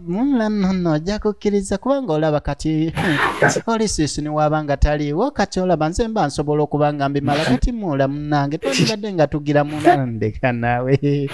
Mulla nonno ojja kukkiriza kubanga olaba kati oli siisi ne waaba nga taliiwo kati olaba nze mba nsobola okuba nga mbimala kati muula munnange twandibadde nga tugira munandeka naawe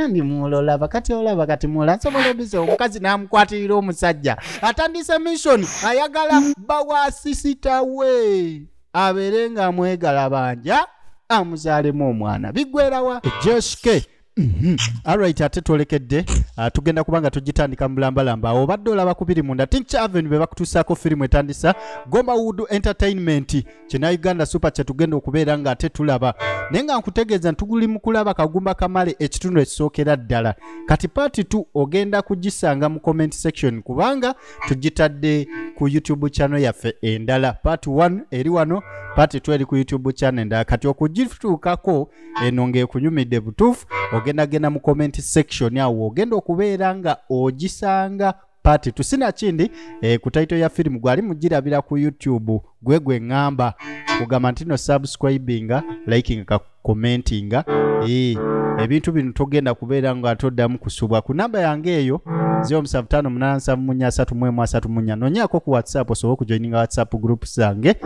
ndi muula olaba kati olaba kati muula nsobola obize omukazi n'amukwatirira omusajja atandise mission ayagala bawa sisita we abeere ng'amwegala banja amuzaalemu omwana bigwerawa joske Mhm. alright ate twolekedde ah, tugenda kuba nga tugitandika mulambalamba awo obadde olaba kubiri munda tinkyaven be bakutuusaako firimu etandisa gomba wood entertainment kyena uganda super kyetugenda okubeera nga ate tulaba naye nga nkutegeeza ntuguli mu kulaba kagumba kamale ekitundu ekisookera ddala kati paati t ogenda kugisanga mu comment section kubanga tugitadde ku youtube channel yaffe endala paati 1 eri wano paati t eri ku youtube channel endala kati okugituukako eno ng'ekunyumidde butuufu ogenda genda mu comment section awo ogenda okubeera nga ogisanga pati tusina kindi eh, ku taito ya firimu gwali mugirabira ku youtube gwe gwe ŋŋamba kugamba nti no subscribinga likinga ka commentinga eh, ebintu bino togenda kubeera nga toddamu kusubwa ku namba yange eyo 07587334 nonyako ku whatsapp osobola okujoininga whatsapp group zange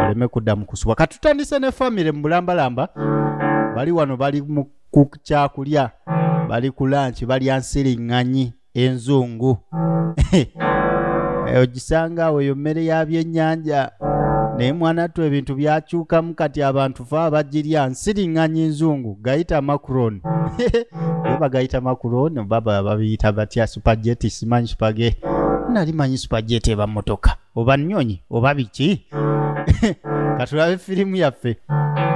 oleme kuddamu kusubwa tutandise ne famire mu bulambalamba bali wano bali mu ku kyakulya bali ku lanki balya nsiriŋŋanyi enzungu Eh, ogisanga awo eyo mmere ya byennyanja naye mwana ttu ebintu byakyukamu kati abantu fe abagirya nsiriŋŋanyi nzungu gayita macron ye bagayita macron baba babiyita batya supageti simanyi supage nali manyi supageti eba motoka oba nnyonyi oba biki katulabe firimu yaffe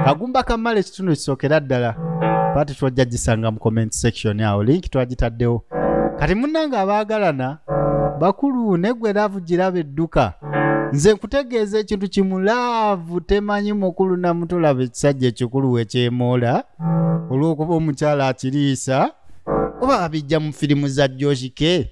kagumba kamala ekitundu kisookera ddala pati twajja gisanga mu comment section awo linki twagitaddewo kati munnange abaagalana bakulu negwe laavu giraba edduka nze nkutegeeza ekintu kimu laavu temanyi mukulu namutulaba ekisajja ekikulu wekyemoola olw'okuba omukyala akiriisa oba abijja mu firimu za joshike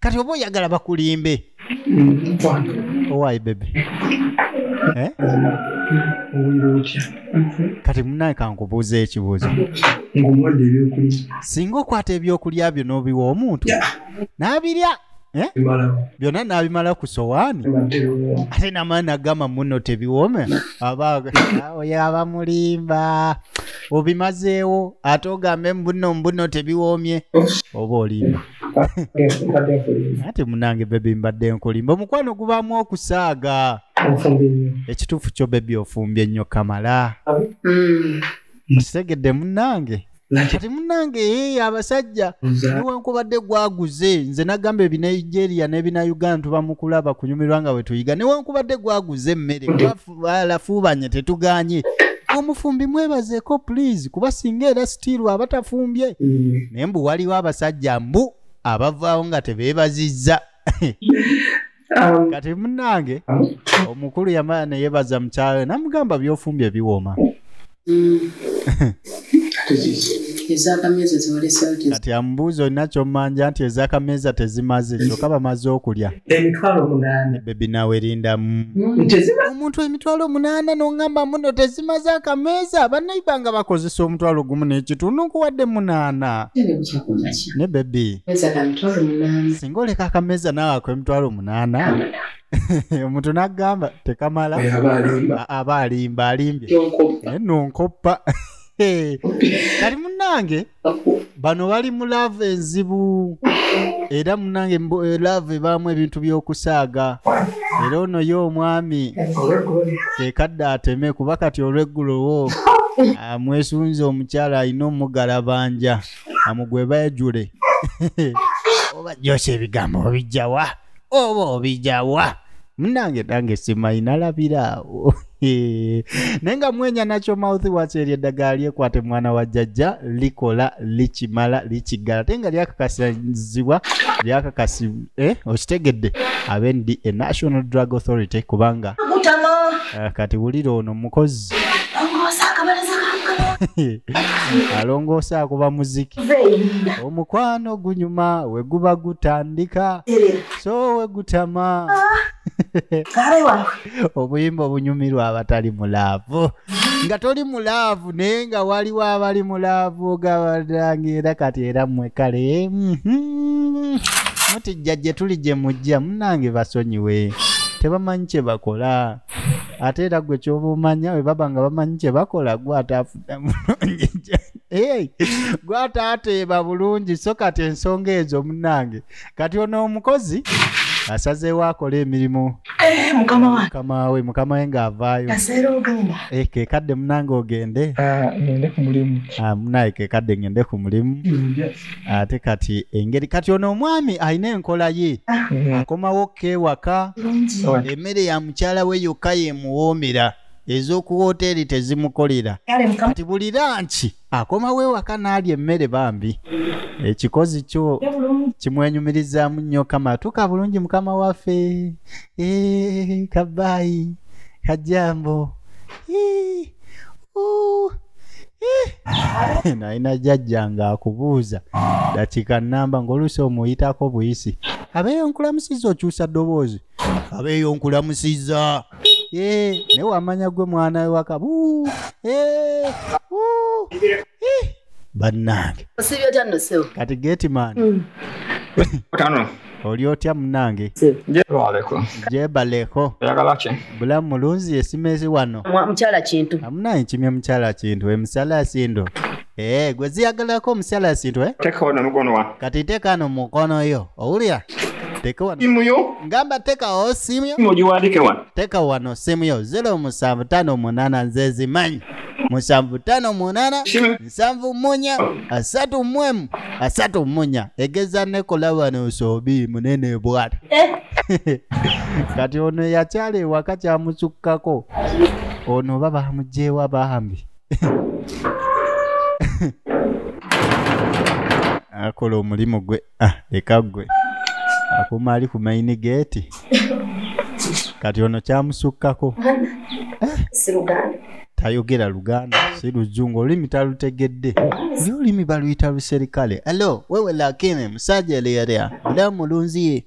kati oba oyagala bakulimbe owayi bebe eh? kati munaye kankubuuza ekibuuzo singa okwata ebyokulya byo n'obiwa omuntu n'abirya eh? byonna n'abimala ku sowaani ate namaani agamba muno tebiwome aba oyo abamulimba obimazeewo ate ogambe mbuno mbuno tebiwoomye oba olimba ate munange bebi mbadde nkulimba omukwano gubaamu okusaaga ekituufu kyo bebi ofumbye nnyo kamala mm. mukitegedde munange kati munange ee eh, abasajja newankubadde gwaguze nze nagamba ebinigeria nebina uganda tubamukulaba kunyumirwa nga wetuyiga newankubadde gwaguze emmere balafuubanye tetuganye omufumbi mwebazeeko please kuba singa era sitiiru aba tafumbye mm. naye mbu waliwo abasajja mbu abavaawo nga tebeebazizza um, kati munange omukulu yamala neyebaza mukyalo namugamba byofumbye biwooma Mm. kati amubuuza olina kyomanja nti ezakameeza tezimaze kyoka bamaze okulya bebi nawe erindamu mm. omuntu emitwalo omunaana nongamba muno tezimaze akameeza banaiba nga bakozesa omutwalo gumu nekitunu nkuwadde munaana ne bebi singa oleka akameeza nawe ako emitwalo omunaana omuntu n'agamba tekamala aba alimba alimbye naye nonkoppa kali munange bano bali mu laavu enzibu era munange eh, laavu ebaamu ebintu by'okusaaga era ono ye omwami kekadde ateme kuba kati olweggulowo amwesunze omukyala alina omugalabanja amugwe bajule oba jyosa ebigambo obijjawa oba obijawa munange nange simanyi nalabira awo Hee. naye nga mwenya nakyo mouth wash eryo eddagala lyekwate mwana wa jjajja likola likimala likiggala ate nga lyakakasizibwa lyakakasi eh, okitegedde abe ndi a national drug authority kubanga Gutama. eh, kati wulira ono mukozi Ongosa akabalaza kankana. alongoosa akuba muziki Veyi. omukwano gunyuma weguba gutandika so wegutama obuyimba obunyumirwa abatali mulaavu nga toli mulaavu naye nga waliwo abali mulaavu ogabadange era kati era mwe kale mhm. muti jjajje tuli gye mujja munange basonyiwe tebamanyi kye bakola ate era gwe kyoba omanya webaba nga bamanyi kye bakola gwe ate afuna mulungi jjajje Hey, gwata ateeba bulungi so kati ensonga ezo munange kati ono omukozi asazeewo akola emirimu eh, mukama we mukama we ng'avaayo eh, kekadde munange ogende ah, ah, munaye kekadde ngende ku mulimu ate kati engeri kati ono omwami alina enkola ye ah. akomawo kewaka emmere ya mukyala we yokka yemuwoomera ez'oku wooteeri tezimukolera kati buli lanki akomawo ewaka n'alya emmere bambi ekikozi kyo kimwenyumirizaamu nnyo kama atuuka bulungi mukama waffe eh, kabaayi kajambo eh, eh. nalina jajja nga akubuuza dakiika namba ng'oluusi omuyitako buyisi abeeyo nkulamusiza okyusa ddoboozi abeeyo nkulamusiza Eh, naye wamanya gwe mwana we waka Buu, eh, wuu, eh. bannange osibye otya nno ssebo kati gateman Mm. Kano. oli otya munange Jebaleko. jebaleko Oyagala ki? bulamu mulunzi yesimezi wano Mwa- mukyala kintu amunaye kimye mukyala kintu emisala sindo Eee, eh, gwe ziyagalako omusyala esintu, eh? Teka wano mukono wa. Kati teka no mukono yo. Owulira? Teka wano. Simu yo. Ngamba teka o simu yo. Simu jiwandike wano. Teka wano simu yo. Zero musanvu tano munana nzezi manyi. Musanvu tano munana. Simu. Musanvu munya. Asatu mwemu. Asatu munya. Egeza nekola wano usobi munene bwata. Eh. Kati ono yachale wakati amusukako. Ono baba hamujewa bahambi. akola omulimu gwe ah, leka gwe akuuma ali ku maini geeti kati ono kyamusukkako tayogera luganda si luzungu olulimi talutegedde naye olulimi baluyita luserikale alo wewe lakini musajja eleyalea mulamu mulunziye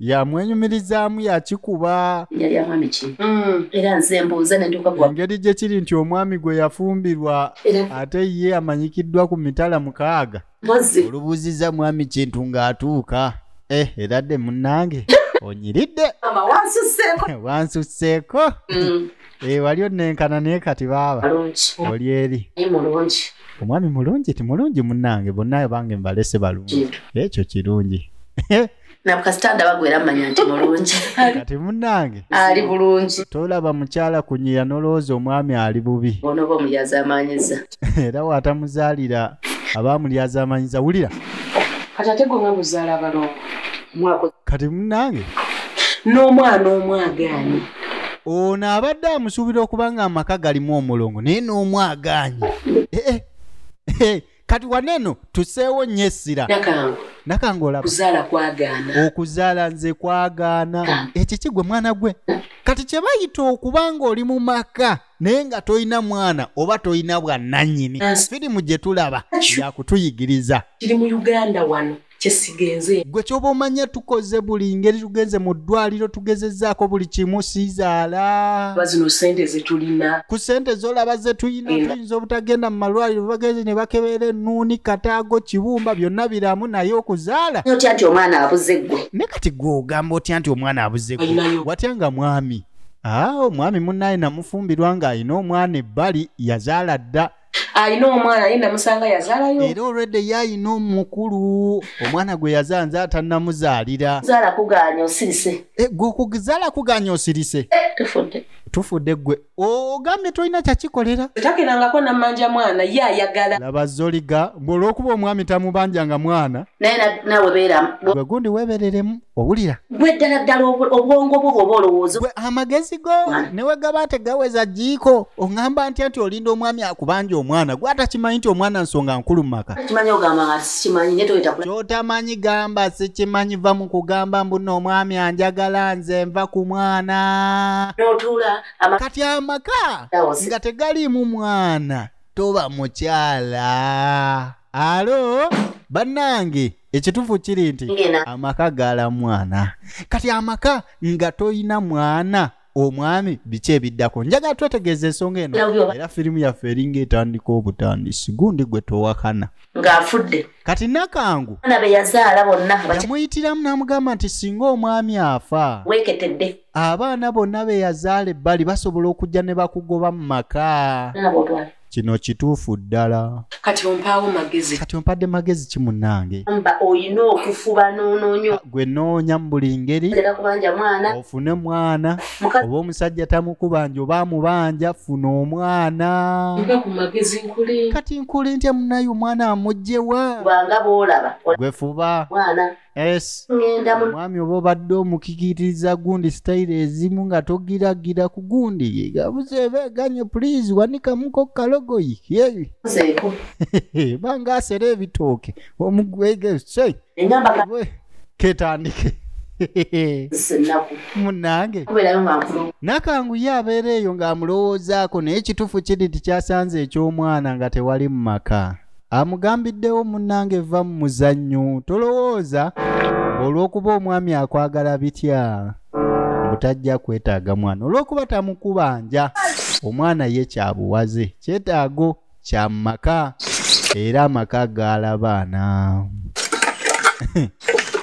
yamwenyumirizaamu yakikuba yali amwami ki mm. era nze mbuuza nendiukagwa engeri gye kiri nti omwami gwe yafumbirwa ate ye amanyikiddwa ku mitala mukaaga olubuuziza mwami kintu ng'atuuka eh era dde munnange onyiridde wansusseeko mm. Eh, wali onnenkana naye kati baaba oli eri omwami mulungi ti mulungi munnange bonna bange mbalese balungi ekyo kirungi nabukasitanda bagwera manya nti mulungi kati munange ali bulungi tolaba mukyala kunyira nolowooza omwami ali bubi onoba omuyazi amanyiza era watamuzaalira abaamulyazamanyiza wulira kati ate gwe nga muzaala abalongo mwako kati munange n'omwana omwagaanyi ono abadde amusuubira okuba nga amaka galimu omulongo naye n'omwagaanyi eh, eh, eh, kati waneeno tuseewo nnyo essira nakange olaba okuzaala nze kwagaana ekyo kigwe mwana gwe kati kye bayita okuba ng'oli mu maka naye nga tolina mwana oba tolina bwananyini firimu gye tulaba yakutuyigiriza kiri mu uganda wano kyesigenze gwe kyoba omanya tukoze buli ngeri tugenze mu ddwaliro tugezezaako buli kimu sizaala bazino sente zetulina ku sente zolaba zetulina tuyinza obutagenda mu malwaliro bagenze ne bakebeera ennuuni kataago kibumba byonna biramu naye okuzaala otya nti omwana abuze gwe ne kati gwe ogamba otya nti omwana abuze gwe watya nga mwami Ah, omwami munnaye namufumbirwa ng'alina omwana ebbali yazaala dda alina omwana ye namusanga yazaalayo era olwedde ye alina omukulu omwana gwe yazaala nze atannamuzaalira zaala kugaanya osirise eh, gwe okuzaala kugaanya osirise eh, tufudde tufudde gwe ogambye tolina kyakikolera takenangako namanja mwana ye ayagala laba zoliga mbweolwokuba omwami tamubanjanga mwana naye nawe beeramu gwe gundi webereremu owulira gwe ddala ddala obwongo bwo bwoba olowooza gwe amagezi go newe gaba tegaweza jiiko oŋamba ntya nti olinda omwami akubanja omwana gwe atakimanyi nti omwana nsonga nkulu mu maka kyotamanyi gamba sikimanyi va mu kugamba mbuno omwami anjagala nze nva ku mwana kati amaka nga tegaliimu mwana toba mukyala alo bannange ekitufu kiri nti amaka gala mwana kati amaka nga toyina mwana omwami biki ebiddako njagala twetegeeza ensonga eno era firimu yaffe eringa etandika obutandisi gundi gwe towakana ng'afudde kati nakangu ana be yazaala bonna yamuyitiramu n'amugamba nti singa omwami afa weeketedde abaana bonna be yazaala ebbali basobola okujja ne bakugoba mu maka kino kituufu ddala kati ompaawo magezi kati ompadde magezi ki munnange mba olina okufuba noonoonyo ah, gwe noonya mu buli ngeri era kubanja mwana ofune mwana oba omusajja tamukubanja oba amubanja funa omwana mba ku magezi nkuli kati nkuli ntya munnaye omwana amugjewa kubanga boolaba gwe fuba mwana es omwami oba obadde omukikitiriza gundi sitayiro ezimu nga togiragira ku gundi gabuze ebeganye pulizi wanikamuko kalogoyi banga asera ebitooke omugwege se ketandike munange nakanguye abeera eyo ng'amulowoozaako naye ekituufu kiri nti kyasanze eky'omwana nga tewali mu maka amugambiddewo munnange vva mu muzannyo tolowooza olw'okuba omwami akwagala bitya butajja kwetaaga mwana olw'okuba tamukubanja omwana ye kyabuwaze kyetaago kya maka era amaka gaala baana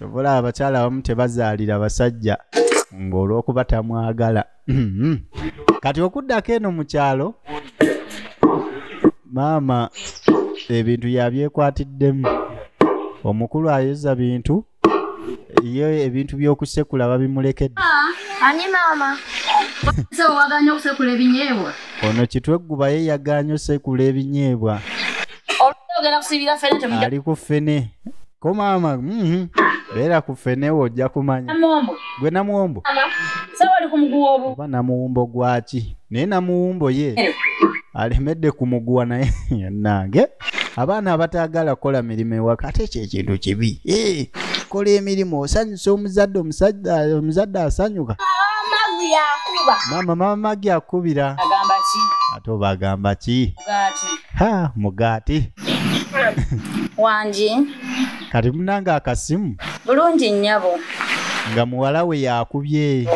obulaba abakyala abamu tebazaalira basajja ng'olw'okuba tamwagala Mhm. kati okuddako eno mu kyalo maama ebintu yabyekwatiddemu omukulu ayoza bintu ye ebintu by'okusekula babimulekedde Ani maama? Ese waganya okusekula ebinyeebwa? ono kitwegguba ye yagaanye osekula ebinyeebwa Olwogera kusibira fene temujja ali ku ffene ko maama mhm. beera ku fenewo ojja kumanya gwe namuwombo oba namuwumbo gwaki naye namuwumbo ye eh. alemedde ku muguwa naye nange abaana abataagala kukola mirimu ewaka ate ekyo ekintu kibi eh, kola emirimu osanyusa omuzadde omuzadde asanyuka maama maama magi akubira ate oba agamba ki mugaati wangi kati munange akasimu bulungi nnyabo nga muwala we yakubye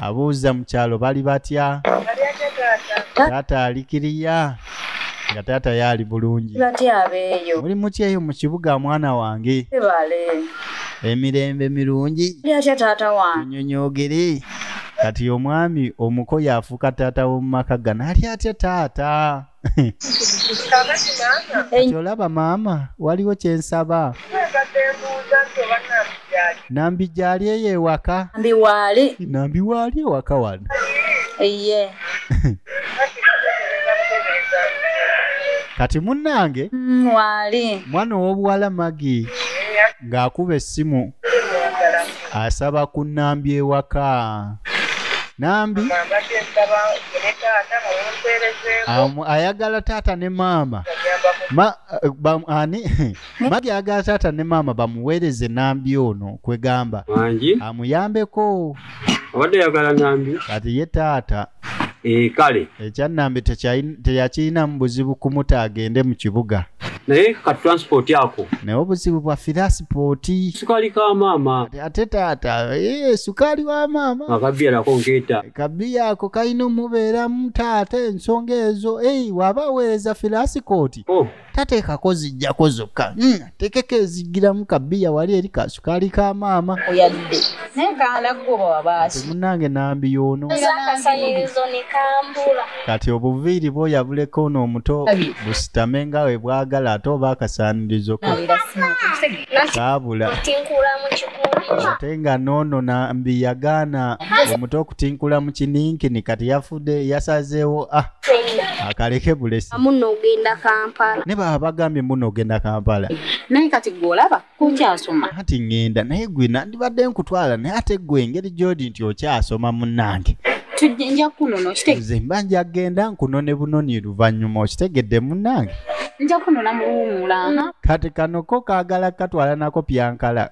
abuuza mu kyalo bali batya taata alikiriya nga taata yaali bulungi muli mutya eyo mu kibuga mwana wange emirembe mirungi nyonyogere kati omwami omuko yafuuka taata w'omumaka gana ali atya taata olaba maama waliwo kyensaba nambi gyali eyo ewaka nambi waali ewaka wano eye kati munange mm, wali mwana owobuwala magi ng'akuba essimu asaba ku nnambi ewaka nambi ayagala taata ne maama ani magi ayagala taata ne maama bamuweereze nambi ono kwegamba amuyambeko obadde yagala nambi kati ye taata ee eh, kale ekyannambi teyakirinamu buzibu kumuta agende mu kibuga naye ka transport ako naye obuzibu bwa firasipoti sukali ka maama ate taata ee eh, sukali wa maama akabiya nako nkeeta kabiya ako kalina omubeeramu taata ensonga ezo ei waba aweereza firasikooti oh. tateekako zijjako zokka hmm, tekeko ezigiramu kabiya wali eri kasukaali ka maama oyadde naye kanagoba wabaasi munange nambi yono kati obuviiri bwo yabuleko ono omuto busitame nga we bwagala ate oba akasaanirizo ko kaabula ate nga noono nambi yagaana omuto okutinkula mu kininkini kati yafudde yasazeewo ah akaleke bulesi muno ogenda kampala ne baba bagambye muno ogenda kampala naye kati gwe olaba kukyasoma anti ŋŋenda naye gwe nandibadde nkutwala naye ate gwe engeri gyodi nti okyasoma munnange tujja kunono kitegeze mba nja kgenda nkunone bunoni luvannyuma okitegedde munnange nja kunona muwuumula kati kanoko kaagala katwala nako pyankala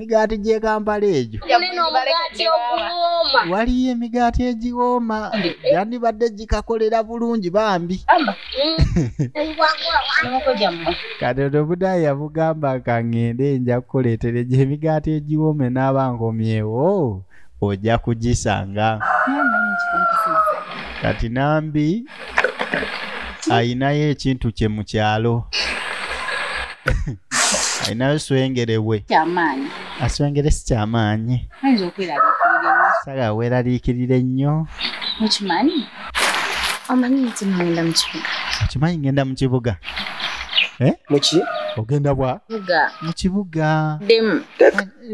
emigaati gy'e kampala egyo waliyo emigaati egiwooma yandibadde gikakolera bulungi bambi katoto budayi yamugamba kangende nja kukuleetera egyo emigaati egiwoome n'abankomyewo ojja kugisanga kati nambi ayinayo ekintu kye mu kyalo ayinayo swengere we aswengere si kyamaanyi saga weeraliikirira ennyo okimanyi omanyi nti ngenda mu kibuga okimanyi ngenda mu kibuga eh? muki ogenda bwa mu kibuga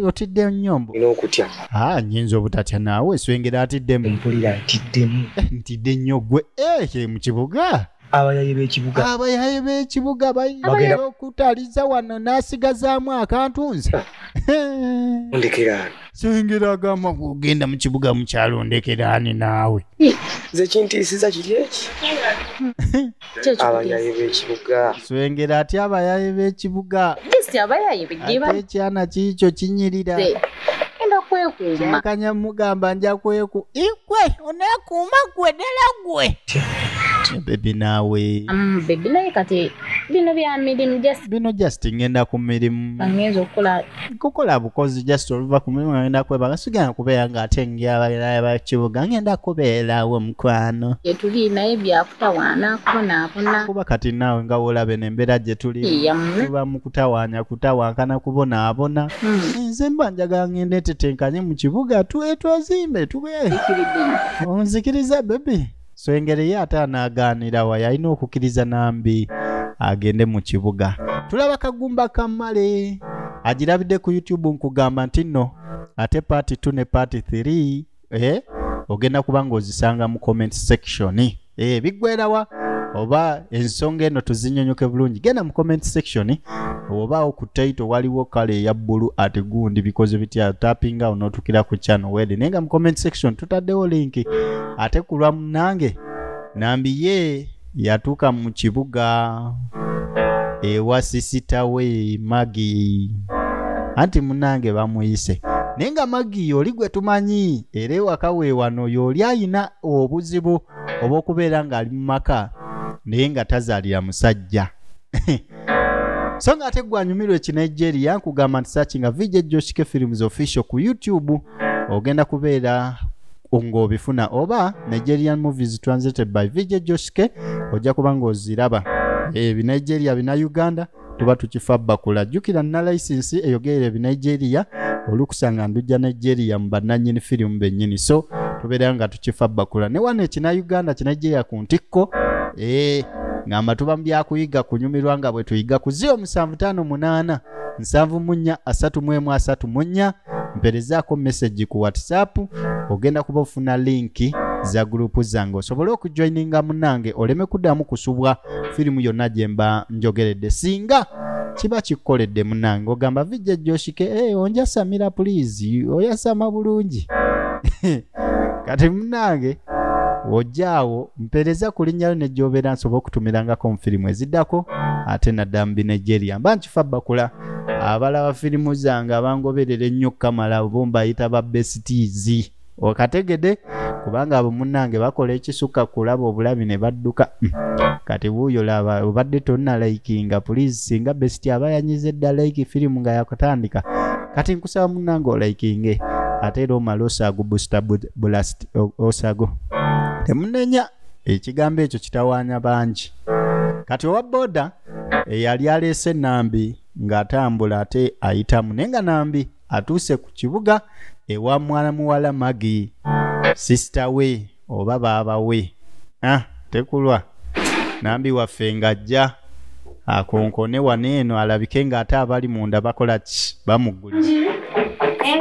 otidde nnyo mbu n'okutya ah, nyinza obutatya naawe swengera atiddemu mpulira ntiddemu eh, ntidde nnyo gwe ekiri eh, mu kibuga abayaye b'ekibuga abayaye b'ekibuga bagenda okutaliza wano n'asigazaamu akantu nze ah. ndekeraani swengera agamba ogenda mu kibuga mukyalo ndekeraani naawe nze kintiisiza kiri eki abayaye b'ekibuga swengera ati abayaye b'ekibuga ate ekyana kiikyo kinyirira enda kwekuuma kanya mugamba nja kweku ikwe onekuuma gwe ddala gwe bebi naawe mm, bebi naye kati bino bya mirimu bino just ngenda ku mirimu ngenza okukola kukola bukozi just oluva ku mulimu ngenda kwebaka sigenda kubeera nga ate ngeabalinaye bakibuga ngenda kubeerawo mukwano gyetuli naye byakutawaana kubonaabona kuba kati naawe nga wolabe nembeera gyetuli tuba mu kutawaanya kutawankana kubonaabona hmm. nze mba njagala ngenda etetenkanye mu kibuga twetwazimbe tube onzikiriza bebi so engeri ye ate anaagaanira wa yalina okukkiriza nambi agende mu kibuga tulaba kagumba kamale agirabidde ku youtube nkugamba nti nno ate paati 2 ne paati 3 eh? ogenda kuba ng'ozisanga mu comment section eh, biggwerawa oba ensonga eno tuzinyonyoke bulungi genda mu comment section obaawo ku taito waliwo kale eya bbulu ati gundi bikoze bitya tapinga onootukira ku channel wede naye nga mu comment section tutaddewo linki ate ku lwa munange nambiye yatuuka mu kibuga ewa sisita we magi anti munange bamuyise naye nga magi oli gwe tumanyi era ewaka weewano yooli ayina obuzibu obw'okubeera ng'ali mu maka naye nga tazaalira musajja so nga ate gwanyumirwa ekinigeria nkugamba nti sakinga vijejjoshike films official ku youtube ogenda kubeera ng'obifuna oba nigerian movies translated by vj joshke ojja kuba ng'oziraba ebinigeria eh, bina uganda tuba tukifa bakula jjukira nna layisinsi eyogerera ebinigeria olukusa nga ndujja nigeria mu bannannyini firimu bennyini so tubeera nga tukifa bakula ne wano ekina uganda kinigeria ku ntikko ee eh, ngamba tuba mu byakuyiga kunyumirwa nga bwe tuyiga ku zio musanvu taano munaana nsanvu mu nnya asatu mu emu asatu mu nnya mperezaako message ku whatsapp ogenda kuba ofuna linki za gurupu zange osobole okujoininga munange oleme kuddamu kusubwa firimu yonna gye mba njogeredde singa kiba kikukoledde munange ogamba vijja joshike hey, eh, onjasamira pulizi oyasama bulungi kati munange wojjaawo mpeereza ku linnya lyo nejjobeera nsobola okutumirangako mu firimu eziddako ate naddala mu binigeria mba nkifa bakula abalaba firimu zange abangoberera ennyo kamala bo mbayita ba besitiizi okategede kubanga abo munnange bakola ekisukka kulaba obulabi ne badduka hmm. kati wuuyo laba obadde tonna likinga pulizi singa besiti aba yanyize dda like firimu nga yakutandika kati nkusaba munnange olikinge ate era omala osaago busta bulasiti osago temunenya ekigambo ekyo kitawaanya bangi kati owa boda eyali aleese nambi ng'atambula ate ayitamu naye nga nambi atuuse ku kibuga ewa mwana muwala magi sisita we oba baaba we ah, tekulwa nambi waffe ng'ajja akonkone wano eno alabike ng'ate abali munda bakola ki bamuggulira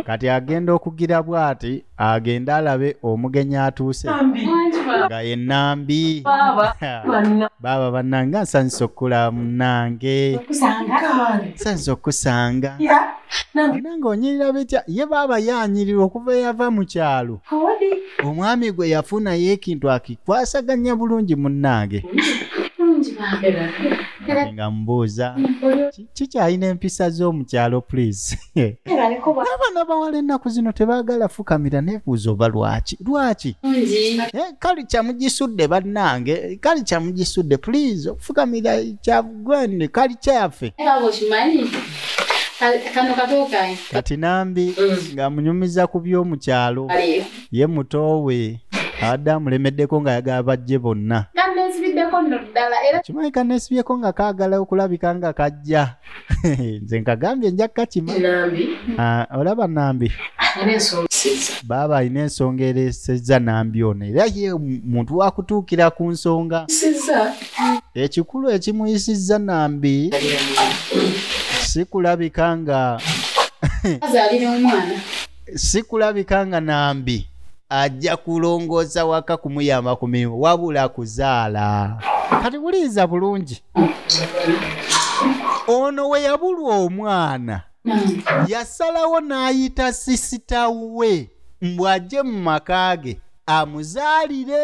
kati agenda okugira bwati agende alabe omugenyi atuuse nga ye nambi baaba bannange nsanyusa okukula munange nsanyusa okukusanga nange onyirira bitya ye baaba yanyirirwa okuva eyava mu kyalo omwami gwe yafuna ye ekintu akikwasaganya bulungi munnange nga mbuuza kikyalina empisa z'omukyalo please n'abaana bawala ennaku zino tebaagala fukamira nebuuza oba lwaki lwaki eh, kali kyamugisudde bannange kali kyamugisudde please okufukamira kyagwende kali kyaffe kati nambi mm. ng'amunyumiza ku by'omukyalo ye muto we abadde amulemeddeko ng'ayagala bajje bonna kimanyi kanesibyeko nga kaagala okulabika nga kajja nze nkagambye nja kukakima ah, olaba nambi baaba alina ensonga eresezza nambi ono era ye muntu wakutuukira ku nsonga ekikulu ekimuyisizza nambi sikulabika nga azalira omwana sikulabika nga nambi ajja kulongoosa waka kumuyamba ku mirimu wabula kuzaala kati buliiza bulungi ono we yabulwa omwana yasalawo n'ayita sisita we mbu ajje mu maka ge amuzaalire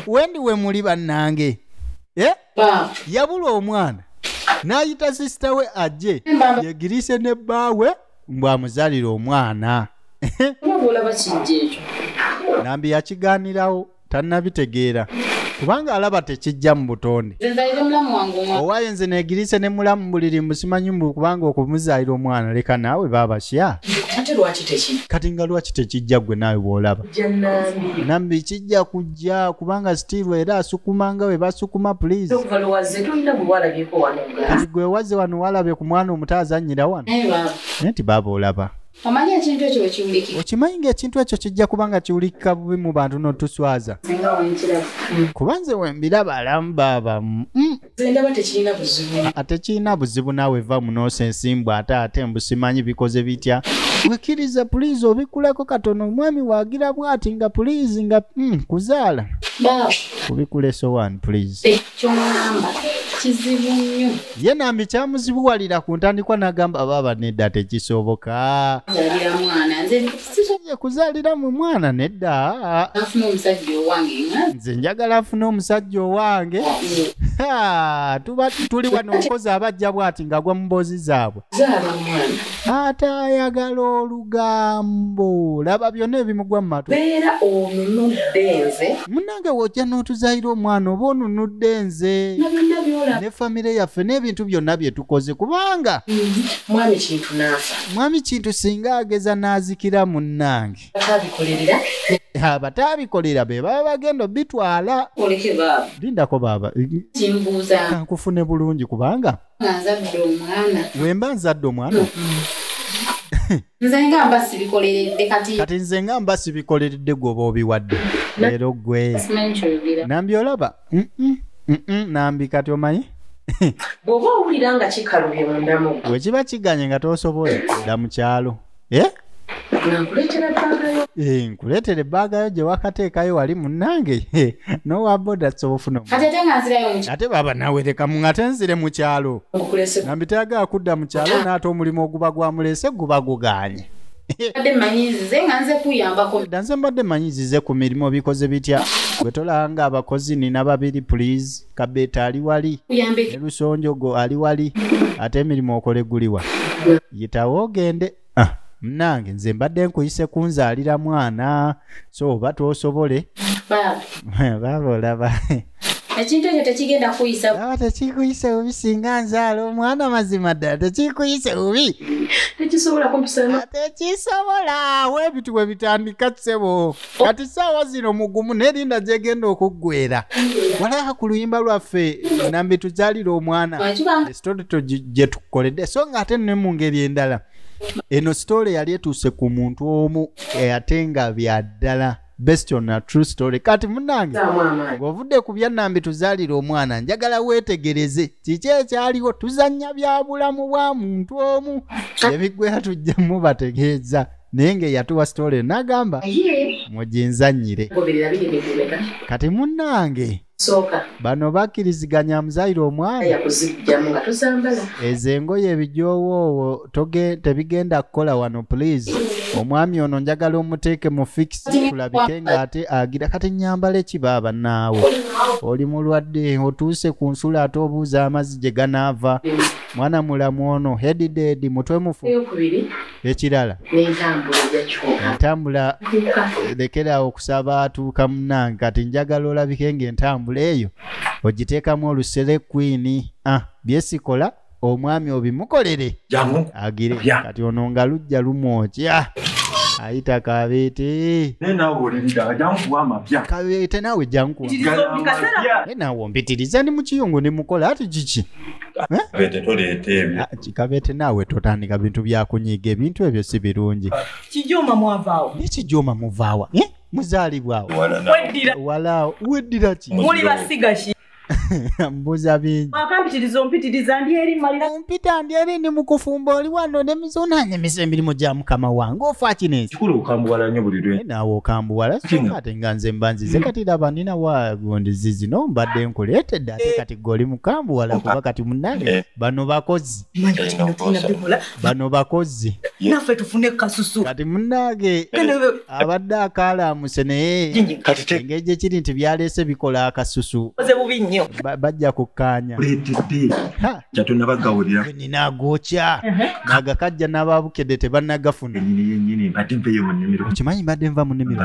wendi we muli bannange eh? yabula omwana n'ayita sisita we ajje yegirise ne bbaawe mbw'amuzalira omwana nambi yakigaanirawo tannabitegeera kubanga alaba tekijja mu butonde owaye nze negirise ne mulamu buliri musimanyi mbu kubanga okumuzaalira omwana leka naawe baabasya kati nga lwaki tekijja gwe naawe bw'olaba nambi kijja kujja bajja kubanga still era asukuma nga we basukuma please kati gwe wazze wano walabye ku mwana omuto azannyira wano naye nti baaba olaba omanyi ekintu ekyo wekiwuliki okimanyi nga ekintu ekyo kijja kuba nga kiwulikika bubi mu bantu notuswaza kuba nze wembiraba alamu baaba mm. Zendaba tekirina buzibu. Atekirina buzibu nawe va munose ensimbu ate ate mbusimanyi bikoze bitya. Wikiriza please obikulako katono omwami wagira bwati nga please nga mm, kuzala. Ba. Kubikule so one please. Ekyo namba. Kizibu nyo. Ye nambi kyamuzibu walira kuntandikwa nagamba baba neda tekisoboka. Zalira mwana. Nze sirinye kuzalira mu mwana nedda afuna omusajja owange nze njagala afuna omusajja owange tuba tuli wano omukozi abajja bwati ngagwa mu mboozi zaabwe ate ayagala olugambo laba byonna ebimugwa mu matu beera onunudde nze munange wojja n'otuzayira omwana oba onunudde nze ne famire yaffe n'ebintu byonna bye tukoze kubanga mm-hmm. mwami kintu naafa mwami kintu singa ageza n'azikira munnange abataabikolera be baba bagenda obitwala lindako baaba kankufune bulungi kubanga wemba nzadde omwana kati nze nga mba sibikoleredde gwoba obiwadde leero gwe nambyolaba Mm-mm, mm-mm, nambi kati omanyi bw'oba owulira nga kikalubye mundamu bwe kiba kiganye nga tosobola dda mu kyalo Eh? nankuleetera bbagayo Eh, nkuleetera ebbaaga yo gye wakateekayo wali munnange Eh, nowa boda soba ofuna omu- kati ate nga nzirayo mu ate baba nawe leka mu- ngate nzire mu kyalo nkulese nambi tayagala kudda mu kyalo naate omulimu oguba gwamulese guba guganye danze mbadde manyi zize ku mirimu bikoze bitya gwe tolanga abakozi nina babiri please kabeeta ali wali ne lusonjogo ali wali ate emirimu okole guliwa yitawo ogende ah, mnange nze mbadde nkuyise kunzaalira mwana so oba twosobole baaba olaba ekintu ekyo tekigenda kuyisa aba tekikuyise bubi singa nzaala omwana mazima ddala tekikuyise bubi tekisobola kumpisana tekisobola awo ebintu bwe bitandika ssebo kati saawa zino mugumu nerinda gyegenda okuggwera walaba ku luyimba lwaffe nambi tuzaalira omwana esitole gye tukoledde so nga ate ne mu ngeri endala eno sitole yali etuuse ku muntu omu ate nga bya ddala best on a true story kati munange ng'ovudde ku byannambi tuzaalira omwana njagala weetegereze kiki ekyaliwo tuzannya bya bulamu bwa muntu omu ebiggwera tujja mubategeeza naye ng'eyatuwa story n'agamba muginzannyire kati munange bano bakkiriziganya amuzayire omwana ezo engoye ebijoowoowo tebigenda kukola wano pulizi omwami ono njagala omuteeke mu fikisi kulabike ng'ate agira kati nyambala ekiba abannaawe oli mulwadde otuuse ku nsula ate obuuza amazzi gye ganaava mwana mulamu ono hedidedi mutwe mufu ekirala entambula lekeraawo okusaba atuuka munange kati njagala olabike ngaentambula eyo ogiteekamu olusere kwini ah, byesikola omwami obimukolere agire kati ono nga lujja lumwokya ah, ayita kabeete kabeete nawe jankuwa nawe ompitiriza ndi mukiyungu ndi mukola ati kiki kikabete toleeta ebyo ah, kikabete naawe totandika bintu byakunyiga ebintu ebyo si birungi kijoma mwavaawo naye kijoma muvaawa eh? muzaalibwawo walaawo weddira ki muli basiga ki mbuza bingi akampitiriza ompitiriza ndi eri malira ompita ndi eri ndi mukufumba oli wano ne mizuna ne misa emirimu gya mukama wange ofa kino ensi kikulu okambuwala nnyo buli lwe naawe okambuwala kati nga nze mbanzize kati laba nina wa gondizi zino mbadde nkuleetedde ate kati goli mukambu wala kuba kati munange eh. bano bakozi bano bakozi nafe tufune kasusu kati munange abadde akalamuse naye engeri gyekiri nti byaleese bikola akasusu bajja kukkaanya nina agokya nagakajja n'ababukedde tebanagafuna okimanyi mbadde nva mu nimiro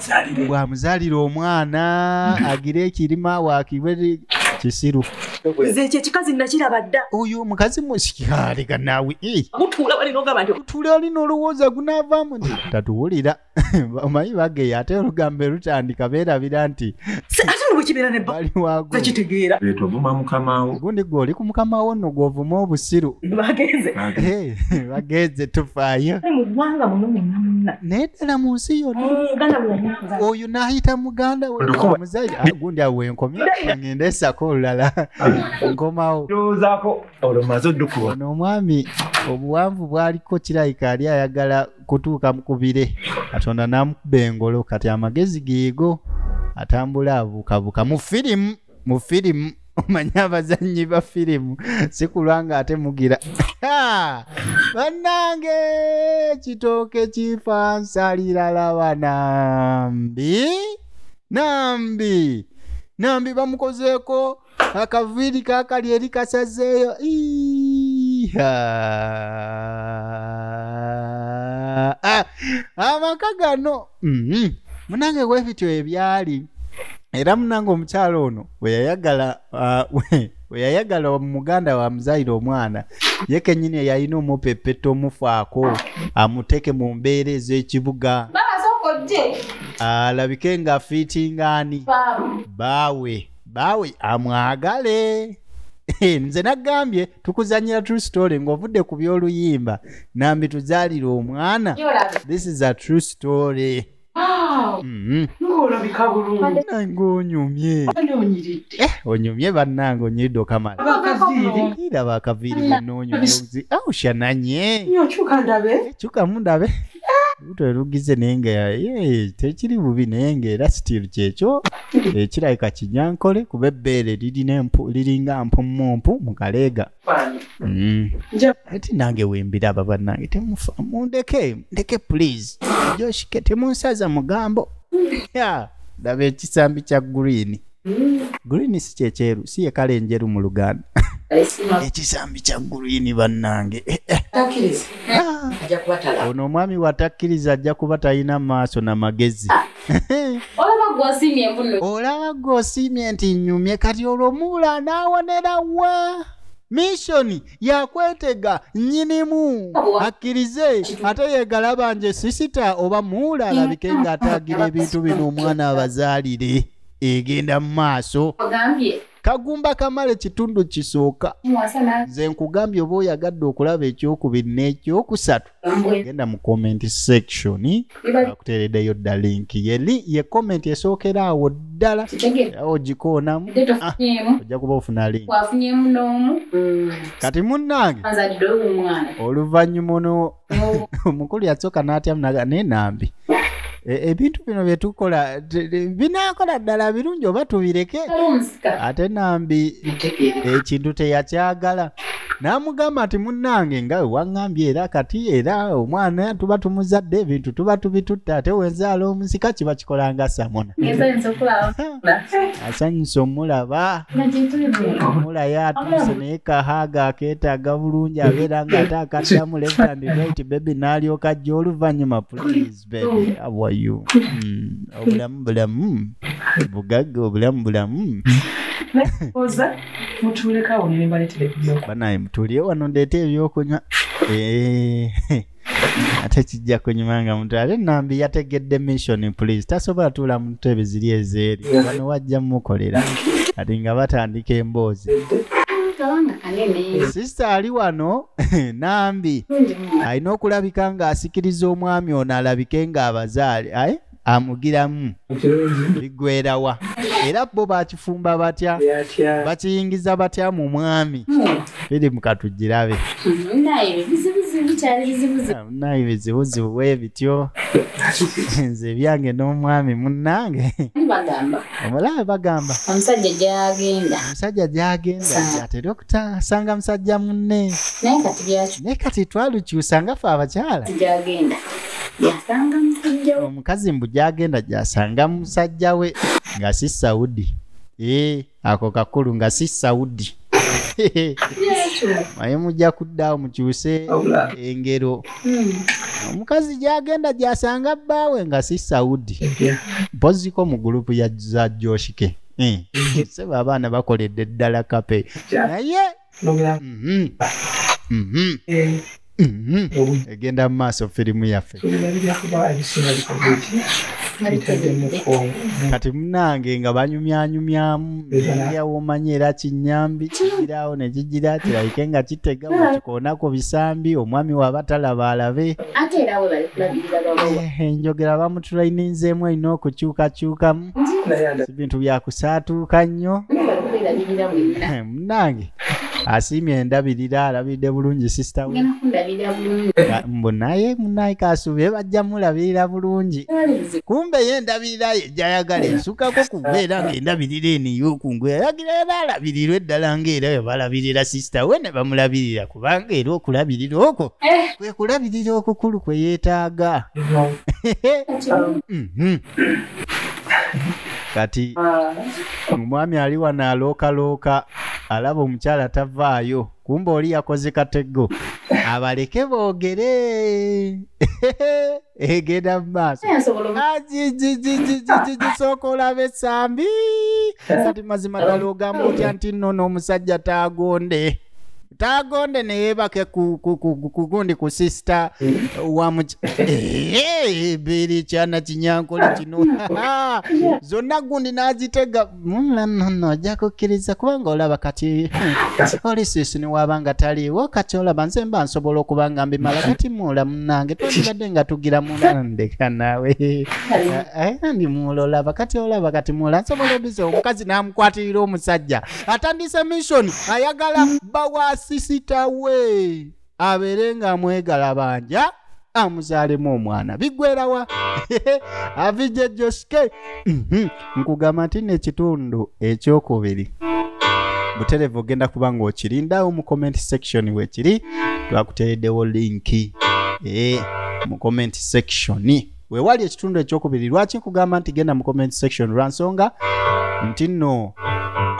bwamuzalira omwana agira ekirima wakiwe kisiru nze ekyo ekikazi nakiraba dda oyo omukazi musikyaleka naawe eh. mutuula wali nogamba nti otuula ali nolowooza gunaavaamu nti tatuwulira omanyi bageya ate olugambo lutandika beerabira nti ate nobwekibeera nebakitegeera etovuma mukamawo gundi gwe oli ku mukamawo nno gwovuma obusiru bagenze eh. bagenze tufaayo mu ggwanga muno munna munna naye ddala mu nsi yonna eh, oyo n'ayita muganda wemuzayi ah, gundi awo wenkomye ngenda esako olulala nkomawo ndowoozaako olwo maze oddukuba ono omwami obuwanvu bwaliko kirayika ali ayagala kutuuka mu kubire katonda n'amukuba engolo kati amagezi geego atambula abuukabuuka mu firimu mu firimu omanye abazannyi ba firimu sikulwa nga ate mugira bannange kitooke kifansalirala banambi nambi nambi bamukozeeko akaviiri kakali eri kasazeeyo ah, amaka gano Mhm. munange bwe bityo ebyali era munange omukyala ono bwe yayagala ah, we- bwe yayagala wa- muganda wa muzayire omwana ye kenyini yalina omupepeta omufaako amuteeke mu mbeera ez'ekibuga Baba soko je. alabike nga fiitingaani Baba. baawe baawe amwagale Eh, nze nagambye tukuzanyira true story ng'ovudde ku by'oluyimba nambi tuzaalira omwana this is a true story Mhm. ng'olabika bulungi nange onyumye ani onyiridde Eh, onyumye bannange onyiridde okamala abakaziiri ira bakaviiri bwenonyumye aushananye nyo kyuka ndabe kyukamu ndabe luto erugize naye nga ye tekiri bubi naye nga era sitiru kyekyo ekirabika kinyankole kuba ebbeere liringa mpummumpu mu kaleega mm. ati nange wembiraba bannange temufa mundeke ndeke please joshike temunsaza mugambo ya ndaba ekisambi kya green mm. green si kyekyeru si yekala enjeru mu luganda ekisambi kya gulwini bannange eh, eh. Ah. ono omwami watakkiriza ajja kuba talina maaso na magezi ah. olaba gwosiimye mbuno olaba gwosiimye nti nyumye kati olwo muula n'awonera wa mishoni yakwetega nyinimu akkirize ate yegalaba nje sisita oba muula alabike ng'ataagira ebintu bino omwana abazaalire egenda mu maaso kagumba kamala ekitundu kisooka nze nkugambye oba oyagadde okulaba ekyokubiri n'ekyokusatu genda mu comment section akuteereddeyo dda linki ye comment esookera awo ddala awo ogikoonamu ah, ojja kuba ofuna link mm. kati munnange oluvannyuma ono omukulu yasooka n'atyamu naga naye nambi E, ebintu bino byetukola binakola ddala birungi oba tubireke ate nambi ekintu teyakyagala n'amugamba nti munnange nga wewaŋŋambye era kati era omwana tuba tumuzadde ebintu tuba tubitutte ate wenzaala omusika kiba kikola nga samona asanyusa omulaba omulayo atuuse naye kahaaga akeetaaga bulungi abeera ng'ate akaddamu left and right bebi n'alyoka ajja oluvannyuma please baby how are you Mm, obulamu bulamu bugagga obulamu bulamu oza mutuleka awo nembaletera ebyo banaye mutulye wano ndeeta ebyokunywa Eh, ate kijja kunyuma nga mutu ate nambi yategedde mission please tasobola tuula mu ntebe ziri ezeeri wano wajja mukolera kati nga batandika emboozi kabanga kanene sisita ali wano nambi Nze alina okulabika ng'asikiriza omwami ono alabike ng'abazaale aye amugiramu bigwerawa era bo bakifumba batya bakiyingiza batya mu mwami biri hmm. mukatugirabe naye bizibuzibu bwebityo nze ebyange n'omwami munnange omulaba bagamba omusajja gyagenda omusajja gyagenda atera okutasanga musajja munne naye kati twalukyusa nga fe abakyala gyagenda yasanga musajja we omukazi mbu gyagenda gyasanga musajja we nga si saudi ee eh, ako kakulu nga si saudi naye mujja kuddawo mukyuse engero hmm. omukazi gyagenda gyasanga bbaawe nga si saudi mpoziko mu gulupu za joshike hmm. seba abaana bakoledde ddala kape naye mhm. Mhm. Eh. mm-hmm. egenda mu maaso firimu yaffe kati munange nga banyumyanyumyamu yawomanya era kinyambi kigirawo nekigira kirabike nga kitega wakikoonako bisambi omwami waba talaba alabe enjogera bamutulaininzeemu erina okukyukakyukamu bintu byakusaatuuka nnyo munange asiimye endabirira alabidde bulungi sisita we mbu naye munaye kasubire bajja mulabirira bulungi kumbe ye endabirira ye jayagala esukako kubeera ngaendabirira eniyokungu yayagira era alabirirwa eddala ngaera webalabirira sisita we ne bamulabirira kubanga era okulabirira okwo eh. kwe kulabirira okukulu kwe yeetaaga mhm. kati ah. omwami ali wano alookalooka alaba omukyala tavaayo kumba oli yakoze katego abaleke boogere egenda mu maaso gisooka olaba esambi kati mazima ddala ogamba otya nti nno n'omusajja taagonde tagonde neyebake ku- ku- ku- kugundi ku sisita wa muki- Eh, biri kyana kinyankole kino zonna gundi nazitega Mm, no, no, no, ojja kukkiriza kubanga olaba kati oli sisini waba nga taliiwo kati olaba nze mba nsobola okuba nga mbimala kati muula munange twandibadde nga tugira muna ndeka naawe Eh, eh, ndi muula olaba kati olaba kati muula nsobola obiza omukazi namukwatirira omusajja atandise mission ayagala bba wa sisita we abeere nga amwegala banja amuzaalemu omwana biggwerawa avijja joske Mhm. nkugamba nti nekitundu ekyokubiri buterevu ogenda kuba ng'okirindawo mu comment section wekiri twakuteereddewo linki Eh, mu comment section wewali ekitundu ekyokubiri lwaki nkugamba nti genda mu comment section lwa nsonga nti nno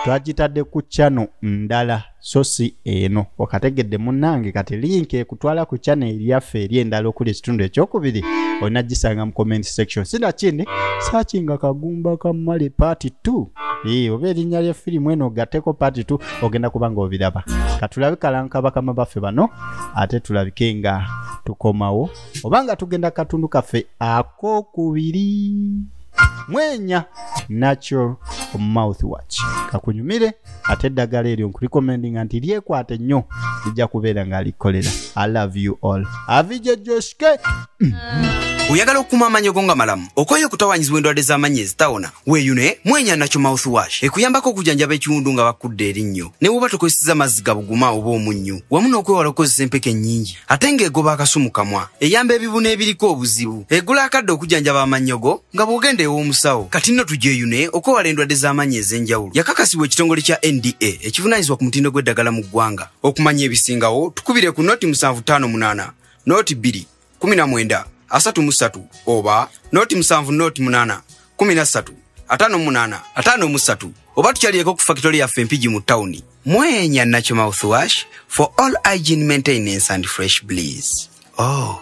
twagitadde ku chano ndala so si eno okategedde munnange kati linka ekutwala ku chano eryaffe eri endala okuli ekitundu ekyokubiri olina gisanga mu comment section sinakindi saki nga kagumba kamale part 2 ee oba erinnya lya firimu eno ogateko part 2 ogenda kuba nga obiraba katulabe kalanka bakama baffe bano ate tulabike nga tukomawo oba nga tugenda katundu kaffe akokubiri mwenya natural mouth watch kakunyumire ate eddagala eryo nkulikomendinga nti lyekwate nnyo lijja kubeera nga likolera i love you all avije joshke oyagala okukuuma amaanyi go nga malamu okwayo okutawanyizibwa endwadde z'amaanyi ezitawona weeyune mwenya nakyo mouth wash ekuyambako okujanjaba ekiwundu nga bakudde erinnyo ne woba tokozeseza mazzi gabuguma oba omunnyu wamu n'okwewala okukozesa empeke ennyingi ate ng'egoba akasu mu kamwa eyamba ebibuna ebiriko obuzibu egula akadde okujjanjaba amannyogo nga bw'ogenda ew'omusawo kati nno tugyeyune okwewala endwadde z'amaanyi ez'enjawulo yakakasibwa ekitongole kya nda ekivunaanyizibwa ku mutindo gw'eddagala mu ggwanga okumanya ebisingawo tukubire ku noti 758 noti 2 19 33 oba noti 7 noti 8 kumi na ssatu ataano mu munaana ataano mu ssatu oba tukyalireko ku fakitole yaffe empigi mu tawuni mwenya nakyo mouthwash for all hygiene maintenance and fresh bleeze oh.